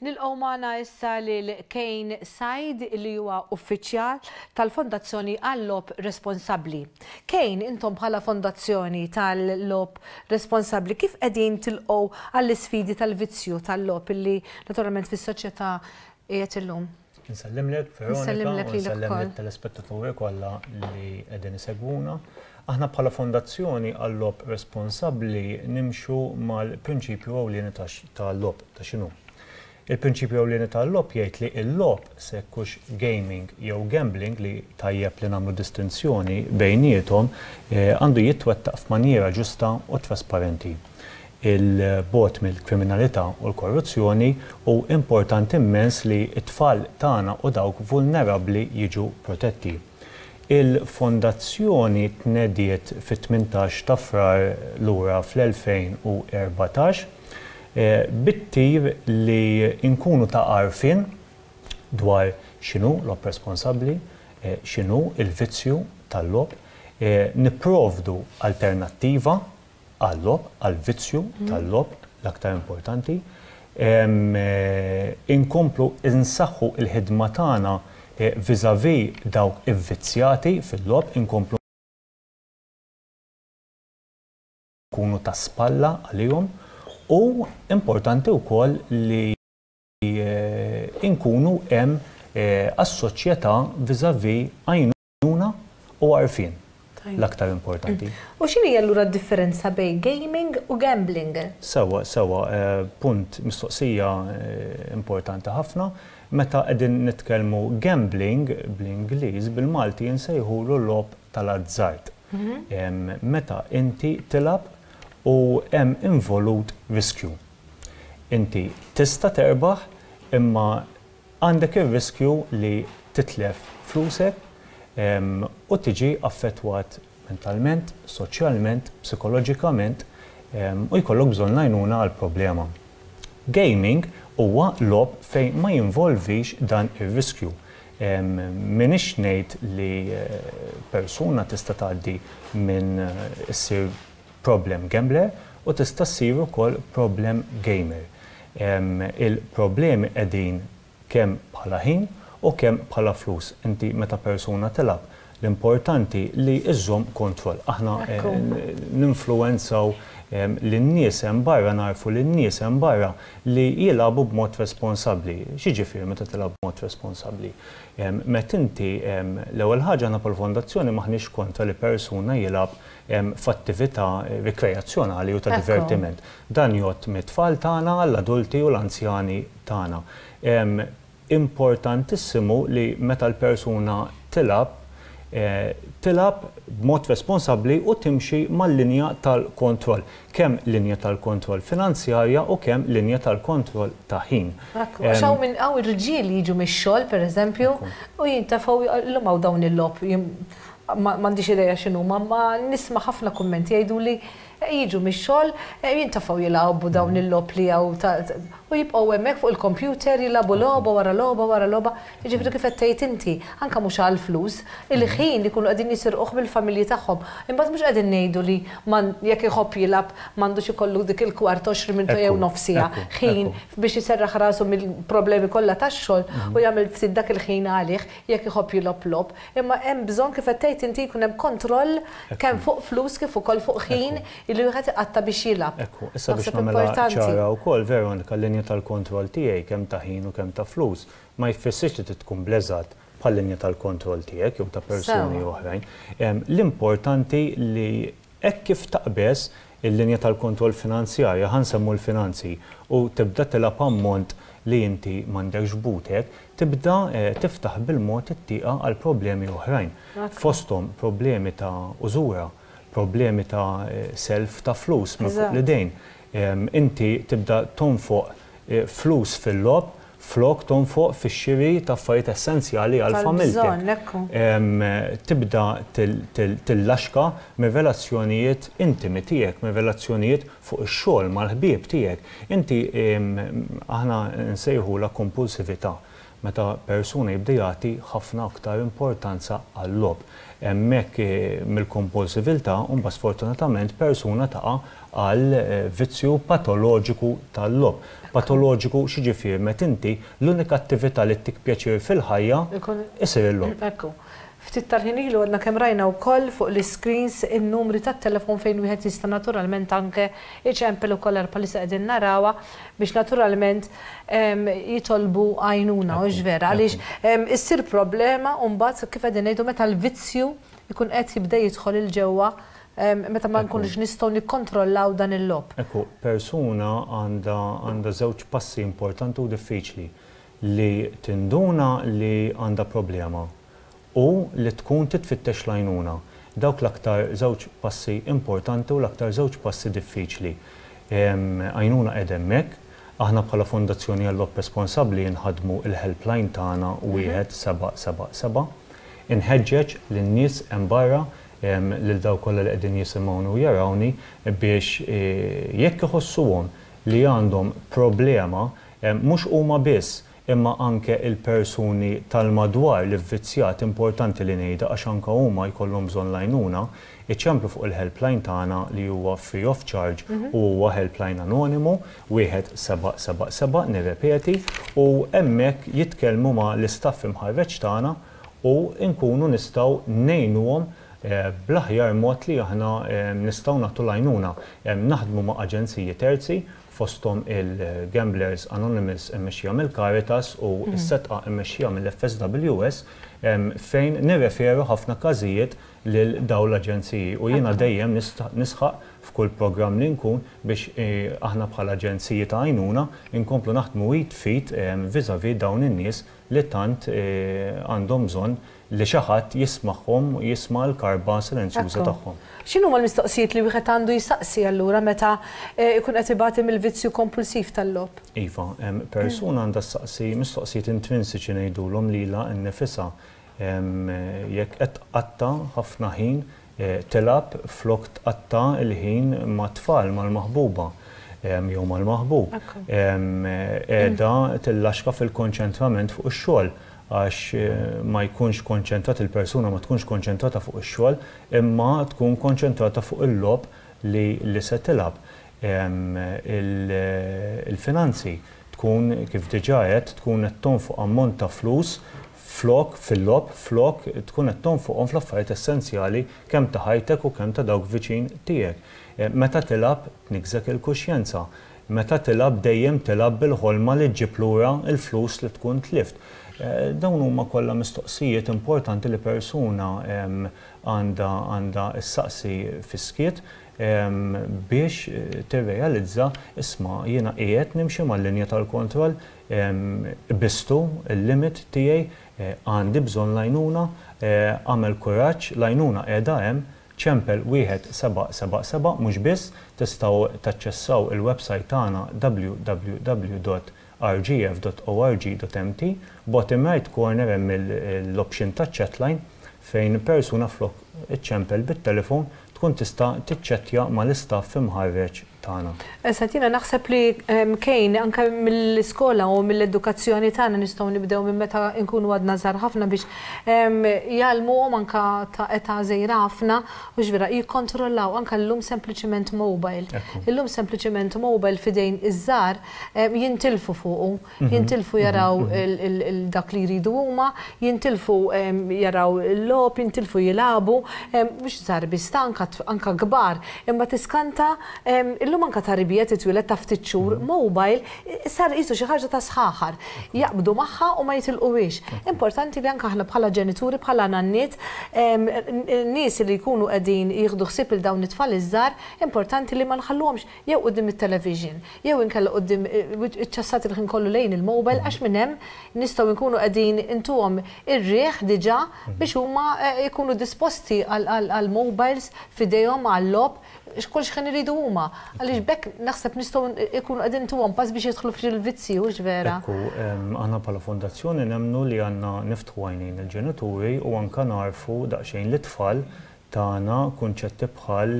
Nilqgħu magħna issa lil Kane Said li huwa uffiċjal tal-Fondazzjoni għall-Lob Responsabbli. Kane, intom bħala Fondazzjoni tal-Lob Responsabbli kif qegħdin tilqgħu għall-isfidi tal-vizzju tal-lob illi naturalment fis-soċjetà qiegħed illum? Insellimlek Veronika. Insellimlek lilek ukoll. Insellem lit-telespettaturi kollha li qegħdin isegwuna. Aħna bħala Fondazzjoni għal-Logħob Responsabbli nimxu mal-prinċipju ewlieni tal-logħob ta' x'inhu. Il-prinċipju ewlieni tal-logħob jgħid li l-logħob, se jkux gaming jew gambling li tajjeb li nagħmlu distinzjoni bejniethom, għandu jitwettaq f'manjiera ġusta u trasparenti. il-bogħod mill-kriminalità u l-korruzzjoni, hu importanti immens li t-tfal tagħna u dawk vulnerabbli jiġu protetti. Il-Fondazzjoni tnediet fit-tmintax ta' Frar lura fl-2014 bit-tir li nkunu ta' għarfien dwar x'inhu logħob responsabbli, x'inhu l-vizzju tal-logħob, nipprovdu alternattiva, għal-logħob, għall-vizzju tal-logħob, l-aktar importanti. Inkomplu nsaħħu l-ħidma tagħna vis-à-vis dawk ivvizzjati fil-logħob, inkomplu nkunu ta' spalla għalihom u importanti wkoll li nkunu hemm għas-soċjetà vis-à-vis għajnuna. għajnuna u għarfien l-aktar importanti. U x'inhi allura d-differenza bejn gaming u gambling? Sewwa, sewwa, punt mistoqsija importanti ħafna. Meta qegħdin nitkellmu gambling bl-Ingliż, bil-Malti insejħulu logħob tal-azzard. Meta inti tilgħab u hemm involut riskju. Inti tista' terbaħ imma, Għandek ir-riskju li titlef flusek u tiġi affettwat mentalment, soċjalment, psikoloġikament u jkollok bżonn l-għajnuna għall-problema. Gaming huwa logħob fejn ma jinvolvix dan ir-riskju. M'iniex ngħid li persuna tista' tgħaddi minn issir problem gambler u tista' ssir ukoll problem gamer. Il-problemi qegħdin kemm bħala ħin u kemm bħala flus. Inti meta persuna tilgħab, l-importanti li żżomm kontroll. Aħna ninfluwenzaw lin-nies hemm barra, nagħrfu lin-nies hemm barra li jilagħbu b'mod responsabbli. X'jiġifieri meta tilgħab b'mod responsabbli? Meta inti, l-ewwel ħaġa aħna bħall-Fondazzjoni m'aħniex kontra li persuna jilgħab f'attività rikreazzjonali u ta' divertiment. Dan jgħodd mit-tfal tagħna għall-adulti u l-anzjani tagħna. Importantissimu li meta l-persuna tilgħab, tilgħab b'mod responsabbli u timxi mal-linja tal-kontroll, kemm linja tal-kontroll finanzjarja u kemm linja tal-kontroll ta' ħin. Ekku, għax hawn min, hawn irġiel li jiġu mix-xogħol, pereżempju, u jintefgħu, illum hawn dawn il-logħob, M'għandix idea x'inhuma, imma nisma' ħafna kummenti jgħiduli jiġu mix-xogħol jintafgħu jilgħbu dawn il-logħob li hawn u jibqgħu hemmhekk fuq il-kompjuter jilagħbu logħba wara logħba wara logħba. Jiġifieri kif qed tgħid inti, anke mhux għall-flus, il-ħin li jkunu qegħdin jisirquh mill-familji tagħhom. Imbagħad mhux qegħdin ngħidu li jekk iħobb jilgħab m'għandux ikollu dik il-kwart, għoxrin minuta jew nofs siegħa ħin biex iserraħ rasu mill-problemi kollha tax-xogħol u jagħmel ftit dak il-ħin għalih. jekk iħobb jilgħob logħob, imma hemm bżonn kif qed tgħid inti jkun hemm kontroll kemm fuq flus kif ukoll fuq ħin li wieħed iqatta' biex jilgħab. Ekku, issa biex nagħmilha ċara wkoll Veronika l-linja tal-kontroll tiegħi kemm ta' ħin u kemm ta' flus ma jfissirx li trid tkun bl-eżatt bħal-linja tal-kontroll tiegħek jew ta' persuni oħrajn. L-importanti li Hekk kif taqbeż il-linja tal-kontroll finanzjarja, ħa nsemmu l-finanzi, u tibda tilgħab ammont li inti m'għandekx f'butek, tibda tiftaħ bil-mod it-tieqa għal problemi oħrajn, fosthom problemi ta' użura, problemi ta' self ta' flus minn fuq l-idejn. Inti tibda tonfoq flus fil-logħob. flok tonfoq fix-xiri ta' affarijiet essenzjali għal familtek, tibda tillaxka mir-relazzjonijiet intimi tiegħek, mir-relazzjonijiet fuq ix-xogħol mal-ħbieb tiegħek. Inti, aħna nsejħulha kompulsività meta persuna jibda jagħti ħafna aktar importanza għal-logħob. Hemmhekk mill-kompulsiviltà mbagħad sfortunatament persuna taqa' għal vizzju patoloġiku tal-logħob. Patoloġiku x'jiġifieri meta inti l-unika attività li ttik pjaċir fil-ħajja isir il-logħob. Ekku. Ftit tal-ħin ilu għadna kemm rajna wkoll fuq l-iscreens in-numri tat-telefon fejn wieħed jista' naturalment anke iċempel ukoll għall-palissa qegħdin narawha. biex naturalment jitolbu għajnuna, mhux vera? Għaliex issir problema u mbagħad kif qegħdin ngħidu meta l-vizzju jkun qed jibda jidħol 'il ġewwa meta ma nkunux nistgħu nikkontrollaw dan il-logħob. Ekku, persuna għandha żewġ passi importanti u diffiċli, li tinduna li għandha problema u li tkun titfittex l-għajnuna. Dawk l-aktar żewġ passi importanti u l-aktar żewġ passi diffiċli. Għajnuna qegħda hemmhekk. Aħna bħala Fondazzjoni Għall-Lob Responsabbli nħaddmu l-helpline tagħna 1777. Inħeġġeġ lin-nies hemm barra, lil dawk kollha li qegħdin jisimgħuni u jarawni biex jekk iħossuhom li għandhom problema, mhux huma biss imma anke il-persuni tal-madwar l-ivvizzjat importanti li ngħidha għax anke huma jkollhom bżonn l-għajnuna, iċemplu fuq il-helpline tagħna li huwa free of charge u huwa helpline anonimu, wieħed seba' seba' seba' nirrepeti, u hemmhekk jitkellmu ma' l-istaff imħarreġ tagħna u nkunu nistgħu ngħinuhom bl-aħjar mod li aħna nistgħu nagħtu l-għajnuna. Naħdmu ma' aġenziji terzi fosthom il-Gamblers Anonymous immexxija mill-Caritas u s-Setqa immexxija mill-FSWS, fejn nirreferu ħafna każijiet lil dawn l-aġenziji u jiena dejjem nisħaq f'kull programm li nkun biex aħna bħala aġenziji ta' għajnuna nkomplu naħdmu id f'id vis-à-vis dawn in-nies li tant għandhom bżonn li xi ħadd jismagħhom u jisma' l-karba silenzjuża tagħhom. X'inhuma l-mistoqsijiet li wieħed għandu jsaqsi allura meta jkun qed ibati mill-vizzju kompulsiv tal-logħob? Iva, persuna għandha ssaqsi mistoqsijiet intrinsiċi ngħidulhom lilha nnifisha. Jekk qed tqatta' ħafna ħin Tilgħab flok tqatta' l-ħin mat-tfal, mal-maħbuba, jew mal-maħbub. Qiegħda tillaxka fil-konċentrament fuq ix-xogħol, għax ma jkunx konċentrat, il-persuna ma tkunx konċentrata fuq ix-xogħol, imma tkun konċentrata fuq il-logħob li se tilgħab. Il-finanzi, tkun, kif diġà għedt, tkun qed tonfoq ammont ta' flus flok, fil-logħob, flok tkun qed tonfoqhom fl-affarijiet essenzjali kemm ta' ħajtek u kemm ta' dawk viċin tiegħek. Meta tilgħab tniggżek il-kuxjenza. Meta tilgħab dejjem tilgħab bil-ħolma li ġġib lura l-flus li tkun tlift. Dawn huma kollha mistoqsijiet importanti li persuna għandha għandha ssaqsi fis-skiet biex tirrealizza, isma' jiena qiegħed nimxi mal-linja tal-kontroll? Qbiżtu l-limit tiegħi, għandi bżonn l-għajnuna, agħmel kuraġġ, l-għajnuna qiegħda hemm, ċempel wieħed seba' seba' seba' mhux biss, tistgħu taċċessaw il-websajt tagħna www dot rgf dot org dot mt, bottom right corner hemm l-option taċ-chatline fejn persuna flok iċċempel bit-telefon tkun tista' tiċċettja mal-istaff imħarreġ tagħna. Eżatt, jiena naħseb li Kane anke mill-iskola u mill-edukazzjoni tagħna nistgħu nibdew minn meta nkunu għadna żgħar ħafna biex jgħallmuhom anke ta' età żgħira ħafna u x'vera jikkontrollaw anke llum sempliċiment mobile. Illum sempliċiment mobile f'idejn iż-żgħar jintilfu fuqu. jintilfu jaraw dak li jridu huma, jintilfu jaraw il-logħob, jintilfu jilagħbu, mhux żgħar biss, ta' anke kbar, imma tiskanta, illum anke ta' rebija titwieled ta' ftit xhur, mobile sar qisu xi ħaġa ta' sħaħar. Jaqbdu magħha u ma jitilquhiex. Importanti li anke aħna bħala ġenituri, bħala nanniet, nies li jkunu qegħdin jieħdu ħsieb lil dawn it-tfal iż-żgħar, importanti li ma nħalluhomx jew quddiem it-televixin, jew inkella quddiem iċ-ċassat il-ħin kollu lejn il-mobile għax minn hemm nistgħu nkunu qegħdin intuhom ir-riħ diġà biex huma jkunu disposti għall-mobiles f'idejhom għal-logħob x'kull xħin iridu huma. Għaliex b'hekk naħseb nistgħu nkunu qegħdin intuhom pass biex jidħlu fil-vizzji, hux vera? Hekk hu. Aħna bħala Fondazzjoni nemmnu li għandna niftħu għajnejn il-ġenituri u anke nagħrfu daqsxejn lit-tfal tagħna kunċetti bħal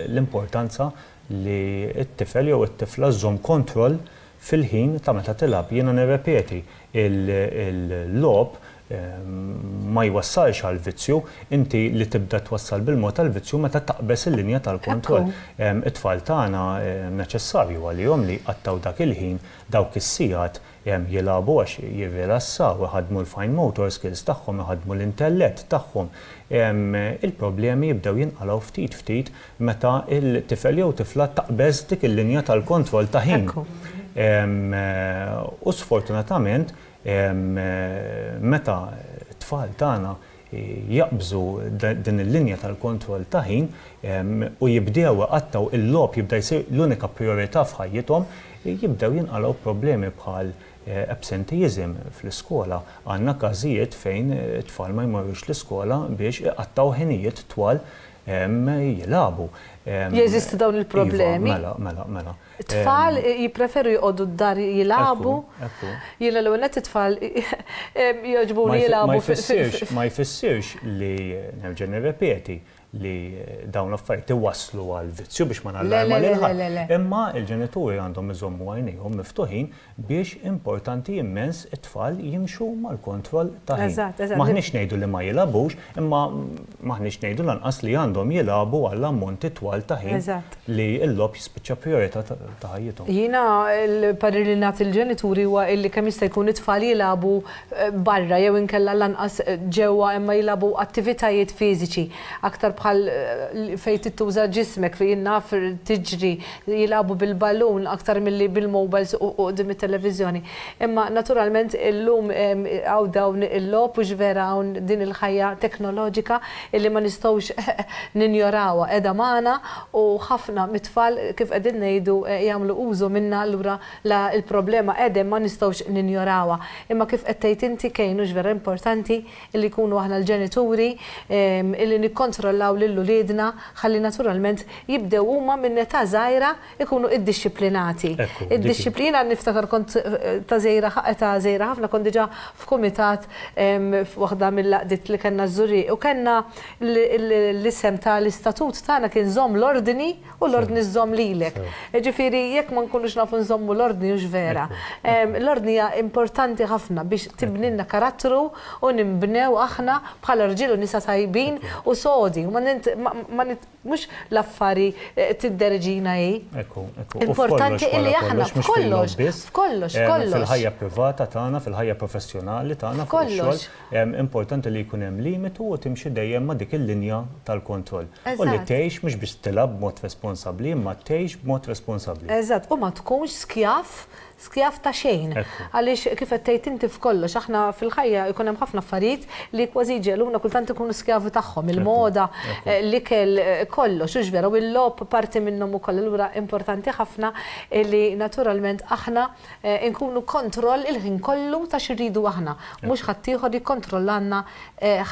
l-importanza li t-tifel jew it-tifla żżomm kontroll fil-ħin ta' meta tilgħab. Jiena nirrepeti, il-logħob ma jwassalx għal vizzju, inti li tibda twassal bil-mod għal vizzju meta taqbeż il-linja tal-kontroll. It-tfal tagħna neċessarju għalihom li jqattgħu dak il-ħin, dawk is-sigħat Hemm jilagħbu għax jirrilassaw, iħaddmu l-fine motor skills tagħhom, iħaddmu l-intellett tagħhom. Il-problemi jibdew jinqalgħu ftit ftit meta l-tifel jew tifla taqbeż dik il-linja tal-kontroll ta' ħin. U sfortunatament meta t-tfal tagħna jaqbżu din il-linja tal-kontroll ta' ħin u jibdew iqattgħu il-logħob jibda jsir l-unika prijorità f'ħajjithom, jibdew jinqalgħu problemi bħal absenteeism fl-iskola. Għandna każijiet fejn it-tfal ma jmorrux l-iskola biex iqattgħu ħinijiet twal jilagħbu. Jeżistu dawn il-problemi? Iva, mela, mela, mela. It-tfal jippreferu joqogħdu d-dar jilagħbu. Jiena l-ewwel nett it-tfal jogħġbuni jilagħbu fil-ħsieb. Ma jfissirx li, nerġa' nirrepeti, li dawn l-affarijiet iwasslu għall-vizzju biex ma nallarma lil ħadd. Imma l-ġenituri għandhom iżommu għajnejhom miftuħin biex importanti immens it-tfal jimxu mal-kontroll ta' ħin. M'aħniex ngħidu li ma jilagħbux, imma m'aħniex ngħidu lanqas li għandhom jilagħbu għal ammonti twal ta' ħin li l-logħob jispiċċa prijorità ta' ħajjithom. Jiena l-parir li nagħti lill-ġenituri huwa li kemm jista' jkun it-tfal jilagħbu barra jew inkella lanqas ġewwa imma jilagħbu attivitajiet fiżiċi aktar bħal fejn tittuża ġismek, fejn naf tiġri, jilagħbu bil-ballun aktar milli bil-mowbajls u quddiem it-televiżjoni. Imma naturalment illum hawn dawn il-logħob hux vera hawn din il-ħajja teknoloġika illi ma nistgħux ninjorawha qiegħda magħna u ħafna mit-tfal kif qegħdin ngħidu jagħmlu użu minnha allura la l-problema qegħda hemm ma nistgħux ninjorawha. Imma kif qed tgħid inti Kane hux vera importanti li nkunu aħna l-ġenituri li nikkontrollaw lil uliedna ħalli naturalment jibdew huma minn età żgħira jkunu iddixxiplinati. Jiena niftakar kont ta' żgħira età żgħira ħafna kont diġà f'kumitat f'waħda mill-għaqdiet li kellna ż-Żurrieq u kellna l-isem tal-istatut tagħna kien żomm l-ordni, U l-ordni żżomm lilek. Jiġifieri jekk ma nkunux nafu nżommu l-ordni hux vera. L-ordni hija importanti ħafna biex tibnilna karattru u ninbnew aħna bħala rġiel u nisa tajbin u sodi. Mhux l-affari tidderġina hi. Importanti illi aħna f'kollox, f'kollox, f'kollox. Fil-ħajja privata tagħna, fil-ħajja professjonali tagħna, f'kollox. Importanti li jkun hemm limitu u timxi dejjem ma' dik il-linja tal-kontroll. U li tgħix mhux biss tilgħab b'mod responsabbli imma tgħix b'mod responsabbli. Eżatt, u ma tkunx skjav, skjav ta' xejn. Għaliex kif qed tgħid inti f'kollox aħna fil-ħajja jkun hemm ħafna affarijiet li kważi jġegħluna kultant inkunu skjavi tagħhom, il-moda, l-ikel, kollox, hux vera, u l-logħob parti minnhom ukoll. Allura importanti ħafna li naturalment aħna Inkunu kontroll il-ħin kollu ta' x'irridu aħna, mhux ħaddieħor jikkontrollalna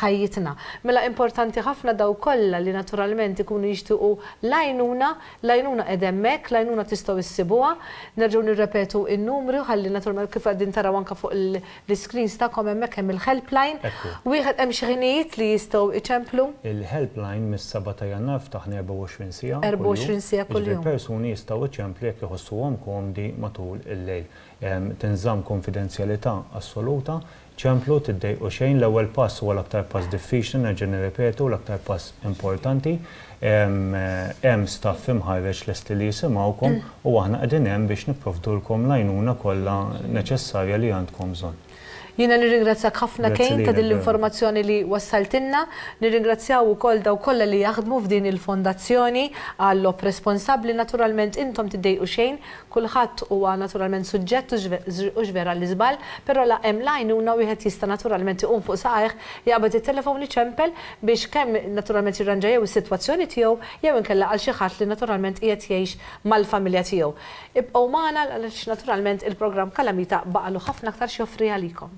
ħajjitna. Mela importanti ħafna dawk kollha li naturalment ikunu jixtiequ l-għajnuna, l-għajnuna qiegħda hemmhekk, l-għajnuna tistgħu issibuha. Nerġgħu nirrepetu n-numri u ħalli naturalment kif qegħdin taraw anke fuq il. L-iscreens tagħkom hemmhekk hemm il-helpline. Ekku. Wieħed hemm xi ħinijiet li jistgħu jċemplu? Il-helpline mis-seba' ta' Jannar ftaħna 24 siegħa kuljum. 24 siegħa kuljum. Jiġifieri persuni jistgħu jċemplu jekk iħossuhom komdi matul il-lejl. Tinżamm konfidenzjalità assoluta. Ċemplu, tiddejqu xejn. L-ewwel pass huwa l-aktar pass diffiċli, nerġa' nirrepetu, l-aktar pass importanti. Hemm staff imħarreġ lesti li jisimgħukom u aħna qegħdin hemm biex nipprovdulkom l-għajnuna kollha neċessarja li għandkom bżonn. Jiena nirringrazzjak ħafna Kane ta' din l-informazzjoni li wassaltilna. Nirringrazzjaw ukoll dawk kollha li jaħdmu f'din il-Fondazzjoni għall-logħob responsabbli. Naturalment intom tiddejqu xejn, kulħadd huwa naturalment suġġett u ġver għall-iżball, però la hemm l-għajnuna u wieħed jista' naturalment iqum fuq saqajh, jaqbad it-telefon iċempel biex kemm naturalment jirranġa jew is-sitwazzjoni tiegħu jew inkella għal xi ħadd li naturalment qiegħed jgħix mal-familja tiegħu. Ibqgħu magħna għaliex naturalment il-programm Kalamita baqgħalu ħafna aktar x'joffri għalikom.